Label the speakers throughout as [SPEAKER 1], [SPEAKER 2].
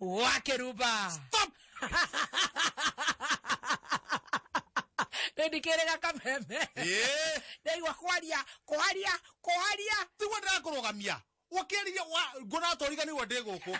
[SPEAKER 1] wake ruba Stop! ndikirega kameme Eh, ndaigua kwaria kwaria kwaria tigwo ndĩrakũrũgamia ũkĩrĩria ngũnatorigani wa ndĩ gũkũ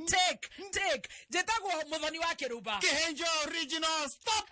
[SPEAKER 1] take take njĩtagwo mũthoni wa kĩrumba kĩhenjo original stop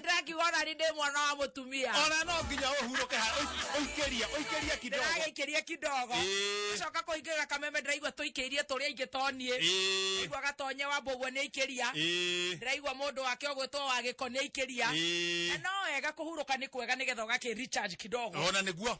[SPEAKER 1] ndĩrakiuga ona nĩ ndĩ mwana wa mũtumia ona no nginya ũhurũke ha ũik- ũikĩrie ũikĩrie kidogo ndĩragĩikĩria kidogo Ĩĩ. coka kũingĩra kameme ndĩraigua tũikĩirie tũrĩa ingĩ toniĩ Ĩĩ, ndaigua gatonye wa mbũguo nĩ aikĩria ĩĩ, ndĩraigua mũndũ wake ũgwĩtwo wa gĩko nĩ aikĩria ĩĩ. na no wega kũhurũka nĩ kwega nĩgetha ũgakĩ recharge kidogo ona nĩguo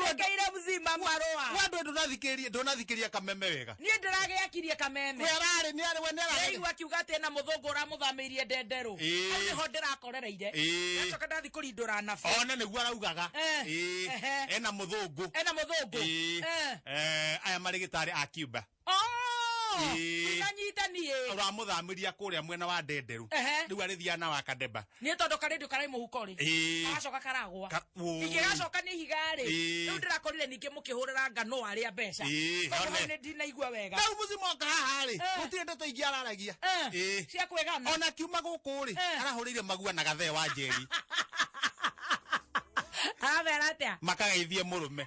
[SPEAKER 1] werekeire mzima marũa wendwe ndũnathikĩrie ndũnathikĩria kameme wega niĩ ndĩragĩakirie kameme we ararĩ nĩ arĩ we nĩ ararĩ Rĩu akiuga atĩ ena mũthũngũ ũramũthamĩirie ndenderũ Ĩĩ. hau nĩho ndĩrakorereire Ĩĩ. gacoka ndathi kũrindũra nabe ona nĩguo araugaga Eh, Ĩĩ. ehe. ena mũthũngũ ena mũthũngũ Ĩĩ. Eh. Eh, aya marĩ gĩtarĩ a Cuba Oh! Ĩĩ. Ndinanyita niĩ. ũramũthamĩria kũrĩa mwena wa ndenderũ Ehe. rĩu arĩthiaga na wakademba Niĩ tondũ karĩndio karĩ mũhuko rĩ. Ĩĩ. Gagacoka karagwa. Ka- ũũ. Ingĩgacoka nĩ ihiga rĩ. Ĩĩ. Rĩu ndĩrakorire ningĩ mũkĩhũrĩra ngano arĩa mbeca. Ĩĩ, Tondũ one. hau nĩ ndinaigua wega. rĩu mũci moka haha rĩ Eh. gũtirĩ ndeto ingĩ araragia Eh, Ĩĩ. Cia kwĩgana. ona kiuma gũkũ rĩ Eh. arahũrĩire magua na gathee wa njeri Aramera atĩa? makageithie mũrũme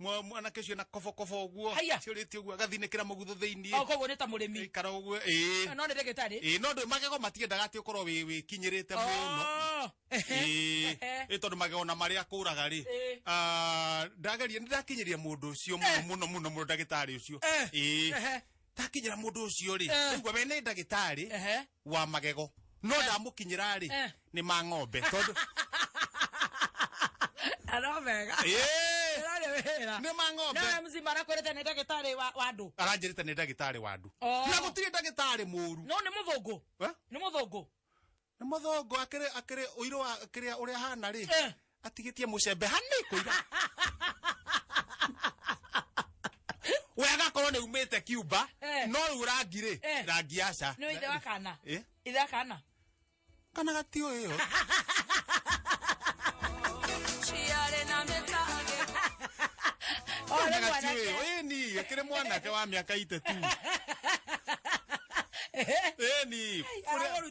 [SPEAKER 1] Mwa- mwanake ũcio na kobokobo ũguo Haiya. ciũrĩtie ũguo agathinĩkĩra mũgutho Au thĩinĩ koguo nĩ ta mũrĩmi ikara ũguo ĩĩ no nĩ ndagĩtarĩ ĩĩ no ndũ magego matiendaga atĩ ũkorwo wĩ- wĩkinyĩrĩte mũno Oh, ehe, Ĩĩ, ehe. ĩ tondũ magego na marĩa kũraga rĩ Ĩĩ. ah, ndageria nĩ ndakinyĩria mũndũ ũcio mũno Eh. mũno mũno mũno ndagĩtarĩ ũcio Eh, Ĩĩ. ehe. ndakinyira mundu ucio ri Eh. nigua we ni ndagitari Ehe. wa magego no ndamukinyira ri Eh. ni ma ng'ombe tondu Ano mega. Eh, Ndari wira. ni ma ng'ombe Nawe mzima arakwirite ni ndagitari wa wa andu. aranjirite ni ndagitari wa andu Oh. na gutiri ndagitari muru No ni muthungu. Eh? Ni muthungu. nĩ mũthũngũ akĩrĩ akĩrĩ ũirũ wa kĩrĩa ũrĩa hana rĩ Eh. atigĩtie mũcembe hanĩ kũira we agakorwo nĩ umĩte kiumba Eh. no rĩu rangi rĩ Eh. rangi aca nä ithe wa kana Eh? ithe wa kana kana gatiå ä yo ciarä na mä tage Ore kana gatiå ä yo mwanake. ä ni akĩrä mwanake wa mä aka ite tu ä ni Aragũruta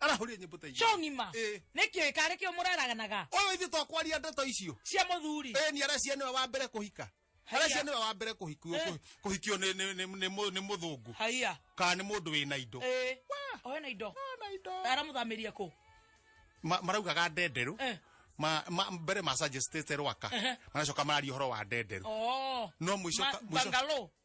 [SPEAKER 1] arahũria nyĩmbo ta icio cong'ima Ĩ. nĩkĩo ĩkarĩ kĩo mũraraganaga ũyũ ithuĩ twakwaria ndeto icio cia mũthuri ĩ nĩ aracia nĩwe wa mbere kũhika Haiya. aracia nĩwe wa mbere kũhikio Eh. kũhikio nĩ- nĩ- nĩ- nĩ mũ- nĩ mũthũngũ haiya kana nĩ mũndũ wĩna indo ĩĩ oe na indo aramũthamĩria kũ Ma- maraugaga ndenderũ Eh. Ma- ma- mbere macagestete rwaka Ehe. maracoka mararia ũhoro wa ndenderũ oo no mũico ka- mũico- bangalo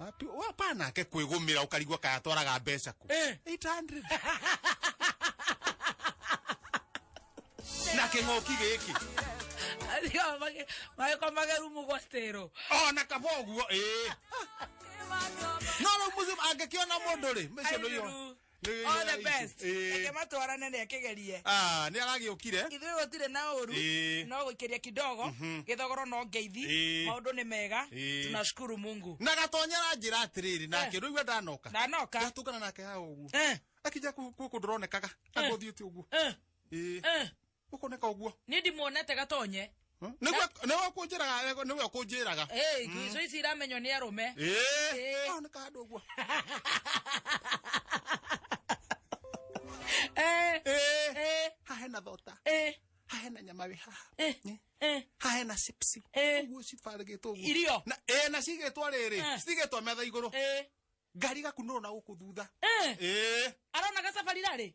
[SPEAKER 1] Wapi- wapa nake kwĩgũmĩra ũkarigua kaya twaraga mbeca kũ Eh. 800 na kĩng'oki gĩkĩ magĩko magerumu gwa stero ona kaba ũguo ĩĩ no rĩu mũciĩ angĩkĩona mũndũ rĩ mĩciĩ nĩyo All the best. Eh. Reke matwarane nĩ akĩgerie. Ah, nĩ aragĩũkire. Ithuĩ gũtirĩ na ũru. Eh. No gũikĩria kidogo. Mhm. Gĩthogoro no ngeithi. Eh. Maũndũ nĩ mega. Eh. Tunashukuru Mungu. Na gatonyera njĩra atĩrĩrĩ nake eh. rĩu we ndanoka. Ndanoka. Ndatũngana nake ha ũguo. Akija kũndũ ronekaga. Agũthiĩ ti ũguo. Eh. Ũkoneka ũguo. Nĩ ndimuonete gatonye. Hmm? Nĩwe nĩwe ũkũnjĩraga nĩwe ũkũnjĩraga. Eh, hmm. icio ici iramenywo nĩ arũme. Eh. Oneka handũ ũguo. Eh. Eh. Eh. Ha hena thota. Eh. Ha hena nyama wĩ haha. Eh. eh. Eh. ha hena chips eh. uguo cibaragitwo uguo irio na eh na cigitwo riri eh. cigitwo metha iguru ngari gakunuru na guku thutha eh arona gacabari rari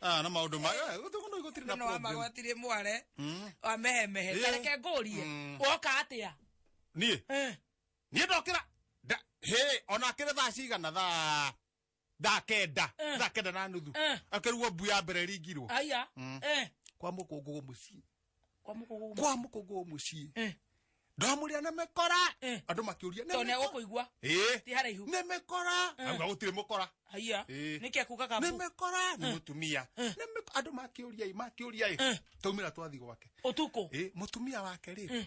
[SPEAKER 1] Ah, na maundu ma gutuguno igotiri na no problem amagwatire mware Mm. wamehemehe Eh. tareke ngũrie Mm. woka atia niĩ Eh, niĩ ndokĩra nda- hĩ ona akĩrĩ thaa cigana thaa thaa kenda Eh. thaa kenda na nuthu Eh. akĩrugwo mbu ya mbere ringirwo aya Mm. Eh, kwa mũkũngũgũ mũciĩ kwa mukugu kwa mukugu mucii eh ndamuria na mekora eh. andu makiuria ne ne ukuigua eh ti haraihu ne mekora eh. auga gutire mukora haiya eh. nike kuga kabu ne mekora ni mutumia ne andu makiuria i makiuria i taumira twathi gwake utuku eh mutumia wake ri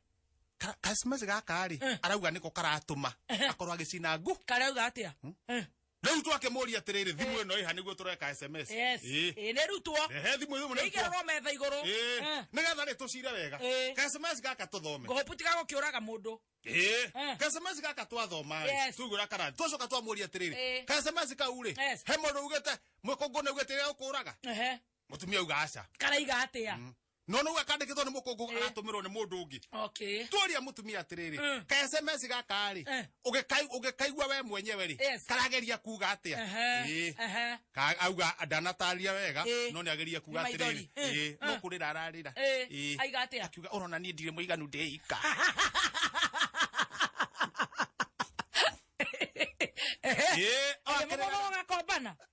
[SPEAKER 1] Ka- kacimaci gaka-rĩ Eh. arauga nĩko karatũma Ehe. akorwo agĩcina ngũ karauga atia Eh, rĩu twakĩmũria atĩrĩrĩ thimũ ĩno ĩha nĩguo tũreka sms yes Ĩ. Ĩ, nĩ rutwo ehe thimũ ĩno nĩ ĩigererwo metha igũrũ Eh. Eh, nĩgetha rĩ tũcire wega Ĩ. ka sms gaka tũthome ngũhũpu tiga gũkĩũraga mũndũ Eh. Eh. ka sms gaka twathoma Yes. tugura karani twacoka twamuria atĩrĩrĩ Eh. ka sms kau rĩ Yes. he mũndũ ugĩte mũkũngũ nĩ ugĩte ũkũraga Ehe, mũtumia uga aca karaiga atia no no akandikitwo ni mukungu Eh. agatumirwo ni mundu ungi okay tuoria mutumia atiriri Mm. ka sms gaka ri Eh. ugikai ugikaigua we mwenyewe ri Yes. karageria kuga atia Ehe, Eh. ehe. Ka- auga ndanataria wega Eh. no niageria kuga Ni atiriri maithori. Eh. Eh, no Eh. kurira ararira Eh, Eh. aiga atia? akiuga urona nie ndire muiganu ndeika Eh, Ende akirega- mũgogo gakombana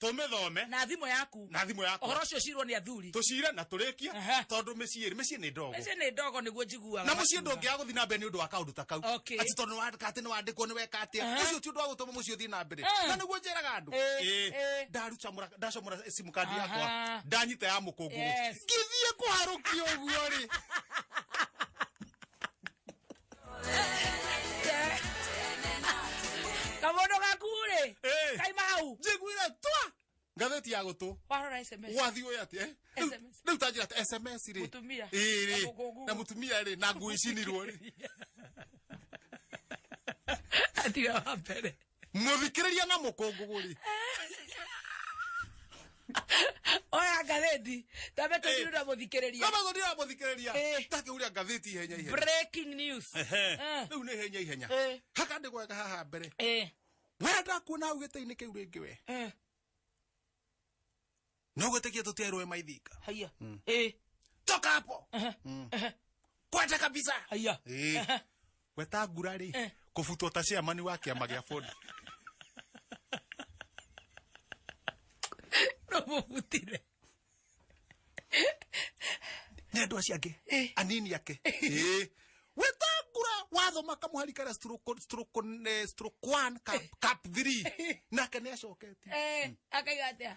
[SPEAKER 1] tũmĩthome na thimũ yaku na thimũ yakwa ũhoro ũcio ũcirwo nĩ athuri tũcire na tũrĩkie Aha. tondũ mĩciĩ mĩciĩ nĩ ndogo mĩciĩ nĩ ndogo nĩguo njiguaga na mũciĩ makiuga. ndũngĩaga gũthiĩ na mbere nĩ ũndũ wa kaũndũ ta kau Okay. atĩ tondũ nĩwandĩka atĩ nĩwandĩkwo nĩweka atĩa Aha. ũcio ti ũndũ wa gũtũma mũciĩ ũthiĩ na mbere Ah. na nĩguo njĩraga andũ Eh, Ĩĩ. eh. ndaruta mũra- ndacomora simu kandi Aha. yakwa ndanyita ya mũkũngũgũ Yes. ngĩthiĩ kũharũkia ũguo rĩ kamondo gaku rä Eh. kaima hau njiguire twa ngatheti ya gũtũ warora sms wathiĩ ũyũ atĩ eh? Rĩu- SMS. rĩu tanjĩra atĩ sms rĩ Mũtumia. Ĩĩ rĩ Na mũkũngũ. na mũtumia rĩ na ngũĩcinirwo rĩ atiga wa mbere muthikiriria na mukungugu ri oya ngathĩti tambe tũthiru na mũthikĩrĩria kama thoni ya muthikiriria Eh. take uria ngathiti ihenya ihenya breaking news Eh. riu ni ihenya ihenya Eh. haka ndi gweka haha mbere Eh, wenda kuona ugite-inĩ kä u rä ngä we eh. no gwĩtĩkia tũtiairwo ĩ maithinga haiya ĩ toka hapo ehe, ehe, kwete kabisa haiya Eh, weta ngura rĩ kũbutwo ta ciamani wa kĩama gĩa bũndi no mũbutire nĩ andũ acio angĩ anini ake Eh, weta ngura wathoma kamũhari karĩa stroke- stroke- eh, stroke one, cap- cap three. nake nĩ acoketie Eh, akaiga atĩa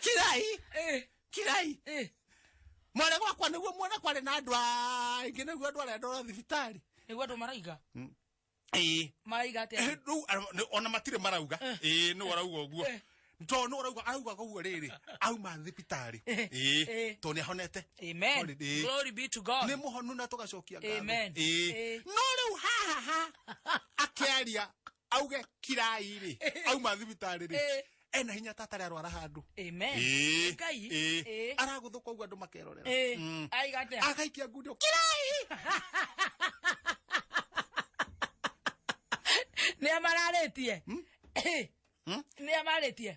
[SPEAKER 1] kirai Eh, kirai eh. mwana gwakwa niguo muona kwari na andu aingi niguo andu aria ndora thibitari nĩguo andũ maraiga ĩĩ maraiga atĩa Eh, rĩu ara- nĩ- ona matirĩ marauga ĩĩ nĩ warauga ũguo Eh. tondũ nĩ warauga araugaga ũguo rĩrĩ auma thibitarĩ Eh. ĩĩ Eh. tondũ nĩ ahonete amen Holiday. glory be to god nĩ mũhonu na tũgacokia ngatho. Amen. Ĩĩ. Ĩĩ. no rĩu hahaha akĩaria auge kirai rĩ auma thibitarĩ rĩ Eh. ena hinya ta atarĩ arwara handũ Amen. Ĩĩ, Ngai. ĩĩ. Ĩĩ. aragũthũka ũguo andũ makerorera Eh, Mm. aiga atia? agaikia ngundi kirai Nĩ amararĩtie. Eh, Hmm? Nĩ amarĩtie.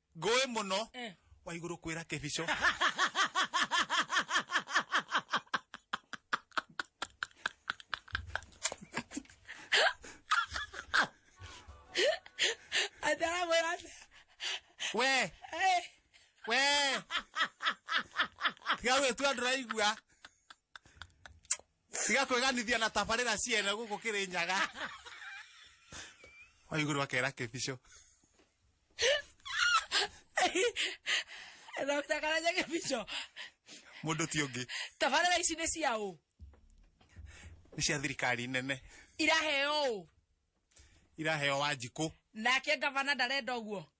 [SPEAKER 1] ngũĩ mũno Eh. wa igũrũ kwĩra kĩbico Ataramwĩra atĩa? we Eh, we tiga gwĩtua ndũraigua tiga kweganithia na tabarĩra ciene gũkũ kĩrĩ nyaga waiguru akera kĩbico Dr. Karanja Kĩbico mũndũ ti ũngĩ tabarĩra ici nĩ cia ũ nĩ cia thirikari nene iraheo ũ iraheo wa njikũ nake ngavana ndarenda ũguo